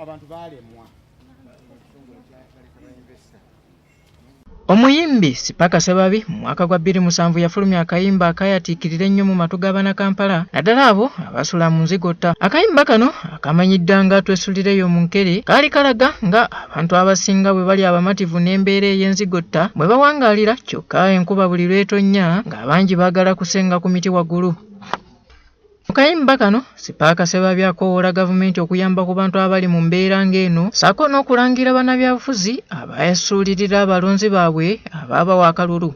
abantu baalemwa Omuyimbi Sipaka Sebabi mu mwaka gwa bbiri musanvu yafulumya akayimba akayatiikirira ennyo mu matu g'abana Kampala naddala abo abasula mu nzigotta. Akayimba kano akamanyidda nga Twesulireyo mu Nkere kaali kalaga nga abantu abasinga bwe bali abamativu n'embeera ey'enzigotta bwe bawangaalira kyokka enkuba buli lw'etonnya ng'abangi baagala kusenga ku miti waggulu. Mu kayimba kano, Sipaaka Ssebabya akoowoola gavumenti okuyamba ku bantu abali mu mbeera ng'eno ssaako n'okulangira bannabyabufuzi abaasuulirira abalonzi baabwe abaabawa akalulu.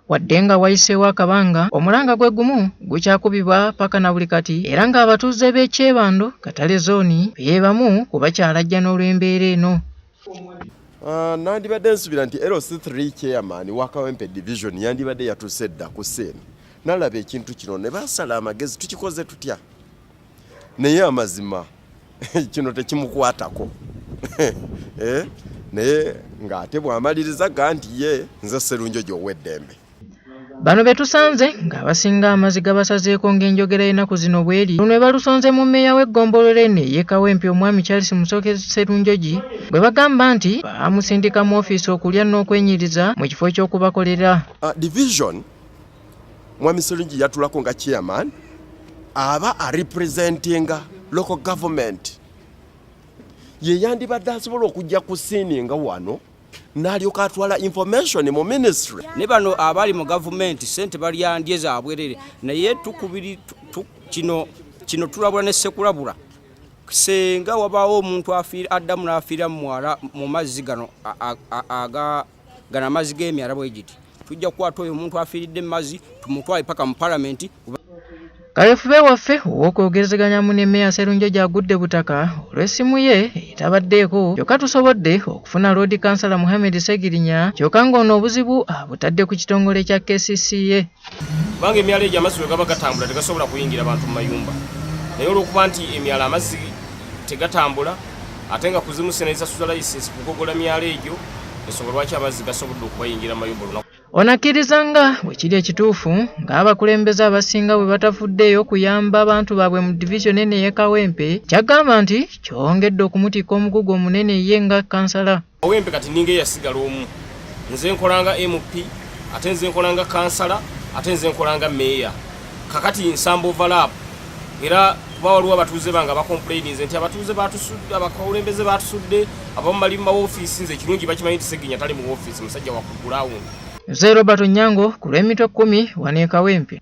Wadde nga wayiseewo akabanga, omulanga gwe gumu gukyakubibwa paka na buli kati era ng'abatuuze b'e Kyebando, Katale zooni, be bamu ku bakyalajjana olw'embeera eno. Uh, nandibadde nsubira nti LC3 chairman wa Kawempe division yandibadde yatuuse dda ku seeni nalaba ekintu kino ne basala amagezi tukikoze tutya naye amazima kino tekimukwatako eh? naye ng'ate bw'amaliriza ga nti ye nze serunjo gy'ow'eddembe Bano be tusanze ng'abasinga amazi gabasazeeko ng'enjogera y'ennaku zino bweri luno ebalusonze mu mmeeya w'eggombolola eno ey'e Kawempe omwami Charles Musoke Sserunjogi bwe bagamba nti baamusindika mu ofiisi okulya n'okwenyiriza mu kifo ky'okubakolera uh, division mwami Sserunjogi yatulako nga chairman aba arepresentinga local government ye yandibadde asobola okujja ku siini nga wano nalyoka atwala information mu ministry ne bano abali mu gavumenti sente balyandye zabwerere naye tukubiri kino kino tulabula ne sekulabula senga wabaawo omuntu afiira addamu n'afiira mu mwala mu mazzi gano gano amazzi g'emyala bwe giti tujja kukwata oyo omuntu afiiridde mumazzi tumutwale paka mu palamenti kayefube waffe ow'okwogerezeganya mu ne meya serunjo gyagudde butaka olw'essimu ye etabaddeeko kyokka tusobodde okufuna loodi kansala muhammed segirinya kyokka ng'ono obuzibu abutadde ku kitongole kya kcca kubanga emyalo egyo amazzi bwe gaba gatambula tegasobola kuyingira bantu mu mayumba naye olw'okuba nti emyalo amazzi tegatambula ate nga kuzimusa nezasuza layisinsi kugogola myalo egyo ensonga lwaki amazzi gasobodde okubayingira mayumba olunaku ono akkiriza nga bwe kiri ekituufu ng'abakulembeze abasinga bwe batafuddeeyo okuyamba abantu baabwe mu divizoni eno ey'e kawempe kyagamba nti kyongedde okumutikka omugugu omunene ye nga kansala owempe kati ninga eyasigala omu nze nkolanga mp ate nze nkolanga kansala ate nze nkolanga meeya kakati nsamba overlap era kuba waliwo abatuuze bange abacomplaininze nti abatuuze batusudde abakulembeze batusudde abamu bali mu mawofiisi nze ekirungi bakimanyi nti seginya tali mu wofiisi musajja wakugulawundi nze robert onyango ku lw'emitwe kkumi waneekawempe